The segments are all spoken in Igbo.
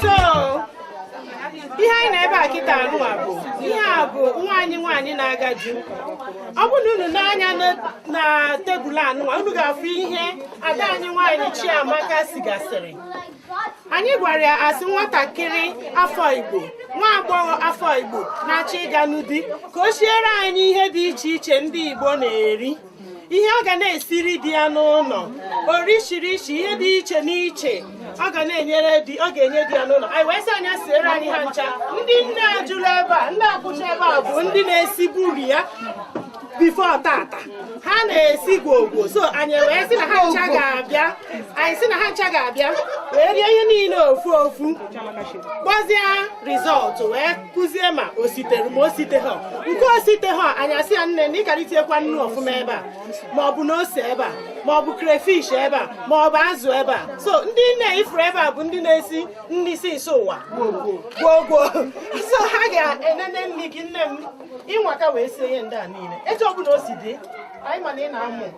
so ihe anyị na ebe a kịta anụwa bụ ihe a bụ nwa anyị nwaanyị na-aga di ọ bụ na unu nee anya na tebụl anụwa unu ga-afụ ihe ada anyị nwaanyị Chiamaka sigasịrị anyị gwara ya asị nwatakịrị afọ Igbo nwa agbọghọ afọ Igbo na-achọ ịga na di ka o siere anyị ihe dị iche iche ndị Igbo na-eri ihe ọ ga na-esiri di ya n'ụlọ orishirishi ihe dị iche n'iche ọ ga na-enyere di ọ ga-enye di ya n'ụlọ anyị wee sị a nya siere anyị ha ncha ndị nne a juru ebe a ndị a kwụcha ebe a bụ ndị na-esiburu ya before tata ha na-esi gwoo gwoo so anyị wee sị na ha ncha ga-abịa anyị sị na ha ncha ga-abịa wee rie ihe niile ofu ofu kpọzie result wee kwuzie ma o sitere ma o siteha nke o siteha anyị asị ya nne na ị kara itinyekwa nnu ọfụma ebe a ma ọ bụ na ose ebe a ma ọ bụ crayfish ebe a ma ọ bụ azụ ebe a so ndị nne ị fụrụ ebe a bụ ndị na-esi nri si isi ụwa gwoo gwoo so ha ga-enene nri gị nne m ị nwaka wee sie ihe ndị a niile etu ọ bụla o si dị anyị ma na ị na-amụ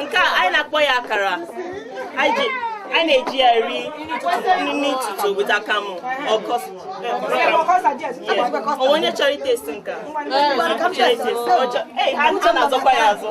Nke a anyị na-akpọ ya akara a na-eji ya eri nri ụtụtụ with akamụ onye chọrọ itesti nke a ha ncha na-azọkwa ya azọ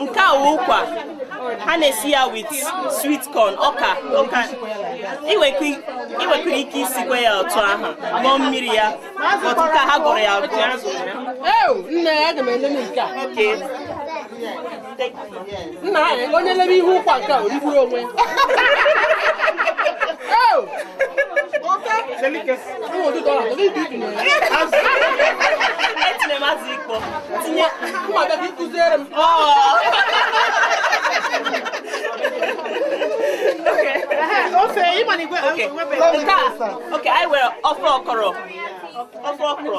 nke a wụ ụkwa ha na-esi ya with sweet corn ọka ọka i nwekwara ike isikwa ya otu ahụ ṅụọ mmiri ya otu ka ha gụrụ ya agụọ nna anyị onye lebe ihe ụkwa nke a o rigburu onwe kụziere m ofe ịmana igwe okay anyị nwere ofe okro ofe okro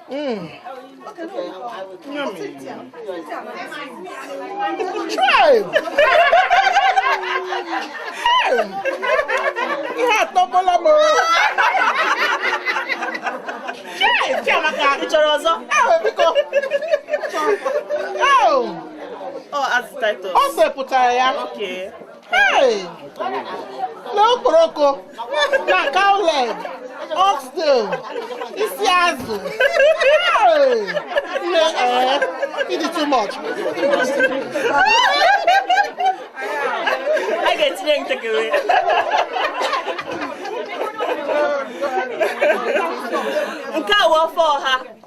Mm. Yummy. Try. Ihe atọgbuola m. Ị chọrọ ọzọ? Biko. Ọ azụta ito. O sipụtara ya. Okay. na okporoko na cow leg oxtail isi azụ nne ee ị dị too much a ga-etinye ntakịrị nke a wụ ofe ọha